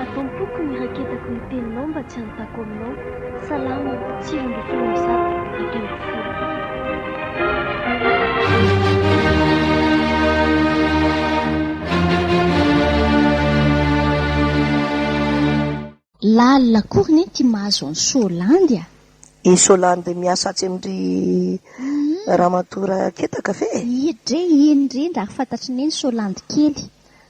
Ato am-poko ny raketako ny teninao mba tsy hanontako aminao, Salamo, sivy ambin'ny folo amby zato, dimy ambin'ny folo. Lalina akory ny ty mahazo an'i Solandy a! I Solandy miasa atsy amin-dry ramatoa Raketaka ve e? Indrindra ary fantatry ny eny Solandy kely.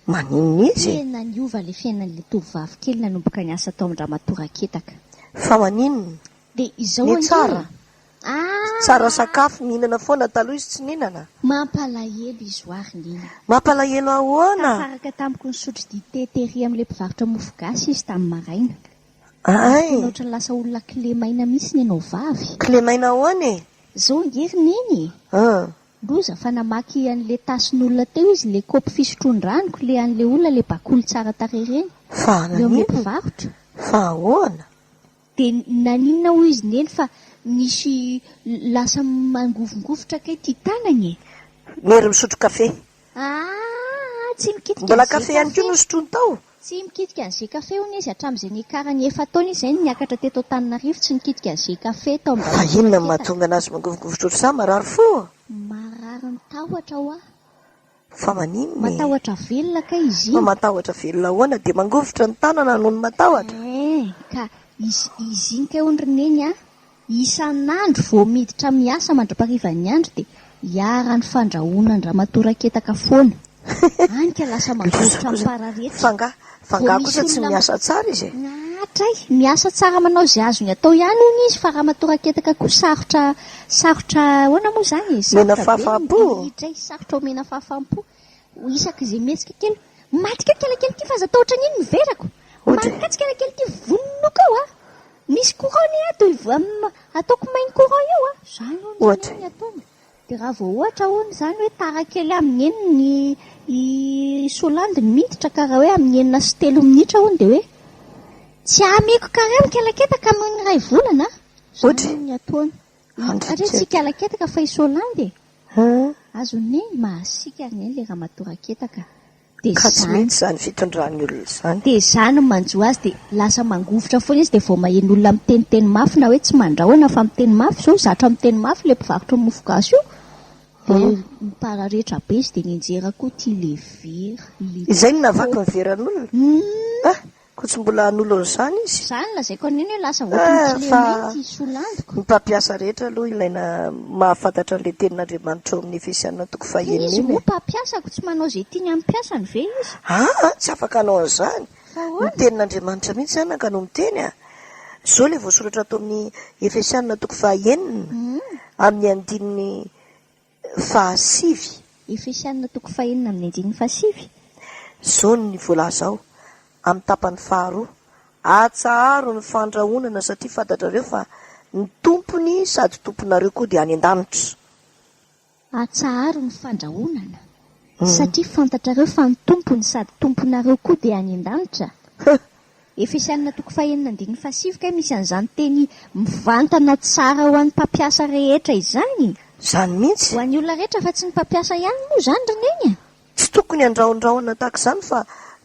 Maninona izy? Tena niova ilay fiainan'ilay tovovavy kely nanomboka niasa tao amin-dramatoa Raketaka. Fa maninona? Dia izao ange e! Ny tsara? Ah! Tsara sakafo, mihinana foana, taloha izy tsy nihinana. Mampalahelo izy ho ary neny. Mampalahelo ahoana? Tafaraka tamiko nisotro dite tery amin'ilay mpivarotra mofo gasy izy tamin'ny maraina. Ary tena ohatran'ny lasa olona kle maina mihitsy ny anao vavy. Kle maina ahoana e? Izao ange ry neny e! Loza fa namaky anle tasin'olona teo izy le kopy fisotroan-dranoko le anle olona le bakoly tsara tarehy reny. Fa eo amle mpivarotra. Fa ahoana? De naninona hoy izy neny fa misy lasa mangovingovitra kay ty tanagny e. Nhery misotro kafe. Mbola kafe ihany koa no sotroiny tao? Tsy mikitika ny Gcafe hono izy, hatramin'izay niakarany efa-taona izy izay no niakatra teto Antananarivo tsy nikitika ny Gcafe tao Ambatomena teto. Fa inona no mahatonga an'azy mangovingovitra ohatr'izany? Marary fo? Marary ny tahotra hoa. Fa maninona e? Matahotra velona kay izy iny. Fa matahotra velona ahoana? Dia mangovitra ny tanana noho ny matahotra? Eeh, ka izy iny kay hono ry Neny a! Isan'andro vao miditra miasa mandra-parivan'ny andro dia iharan'ny fandrahoana an-dramatoa Raketaka foana. Any ka lasa mangovitra am-pararetra. Vao misy olona mahatray, miasa tsara manao izay azony atao ihany hono izy fa ramatoa Raketaka koa sarotra sarotra ahoana moa izany e? Sarotra be ny dirihitra e, sarotra omena fahafaham-po. Isaky izay mihetsika kely, Maty keo ny kelikely ity fa aza atao ohatran'iny ny verako! Maty katsy kelikely ity, vononoka ao a! Misy courant ny ato e, ataoko main courant eo a, zany hono zany ny ataony, dia raha vao ohatra hono zany hoe tara kely amin'ny enina ny i solandy ny miditra ka raha hoe amin'ny enina sy telo minitra hono dia hoe tsy amiko kare mikelaketaka noho ny iray volana a, zany hono ny ataony. Satria tsy hikelaketaka fa i solandy e, azony mahasika anie ilay ramatoa raketaka. Dia Ka tsy izany. mety izany fitondran'ny olona izany. Dia izany no manjo azy dia lasa mangovitra foana izy dia vao maheno olona miteniteny mafy na hoe tsy mandrahona fa miteny mafy izao zatra miteny mafy ilay mpivarotra ny mofo gasy io dia An. nipararetra be izy dia nianjera koa ity le vera le Izay no nahavaky ny veran'olona? Hum. Ah! Koa tsy mbola hanolo an'izany izy. Za no lazaiko an'iny hoe lasa ohatran'ny tsy le mety i Soa Landiko. Ny mpampiasa rehetra aloha ilaina mahafantatra an'ilay tenin'Andriamanitra ao amin'ny Efesiana toko fahenina iny e. Dia izy moa mpampiasa koa tsy manao izay tiany amin'ny mpiasany ve izy? Aa! Tsy afaka hanao an'izany. Fa ahoana? Ny tenin'Andriamanitra mihitsy anaka no miteny a! Izao ilay voasoratra ato amin'ny Efesiana toko fahenina amin'ny andininy. fahasivy. Efesiana toko fahenina amin'ny andininy fahasivy. Zony ny voalaza ao amin'ny tapany faharoa. Atsaharo ny fandrahonana satria fantatrareo fa ny Tompony sady Tomponareo koa dia any an-danitra. Atsaharo ny fandrahonana satria fantatrareo fa ny Tompony sady Tomponareo koa dia any an-danitra. Efesiana toko fahenina andininy fahasivy kay misy an'izany teny mivantana tsara ho an'ny mpampiasa rehetra izany? Izany mihitsy. Ho an'ny olona rehetra fa tsy ny mpampiasa ihany moa izany ry neny a! Tsy tokony handrahondrahona tahaka izany fa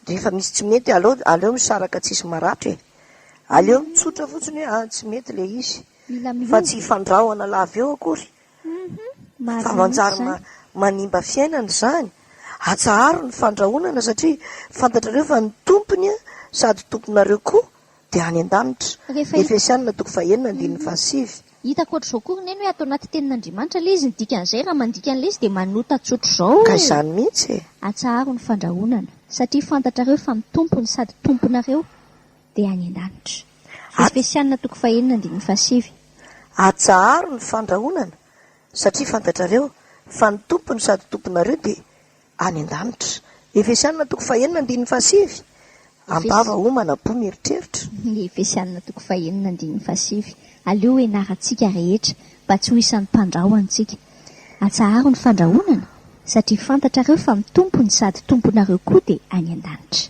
rehefa misy tsy mety aleo aleo misaraka tsisy maratra e! Aleo mitsotra fotsiny hoe ah tsy mety ilay izy fa tsy hifandrahona lava eo akory Fa manjary manimba fiainana izany. Atsaharo ny fandrahonana satria fantatrareo fa ny tompony sady tomponareo koa dia any an-danitra. Efesianina toko fahenina andininy fahasivy. Hitako ohatr'izao koa ry neny hoe ato anaty tenin'Andriamanitra ilay izy, ny dikan'izay raha mandika an'ilay izy dia manota tsotr'izao hoe. Ka izany mihitsy e. Atsaharo ny fandrahonana satria fantatrareo fa ny tompony sady tomponareo. dia any an-danitra. Efesiana toko fahenina andininy fahasivy. Atsaharo ny fandrahonana, satria fantatrareo fa ny Tompo no sady Tomponareo dia any an-danitra. Efesiana toko fahenina andininy fahasivy. Am-bava homana am-po mieritreritra. Efesiana toko fahenina andininy fahasivy. Aleo ho ianarantsika rehetra mba tsy ho isan'ny mpandrahonantsika. Atsaharo ny fandrahonana, satria fantatrareo fa ny Tompo no sady Tomponareo koa dia any an-danitra.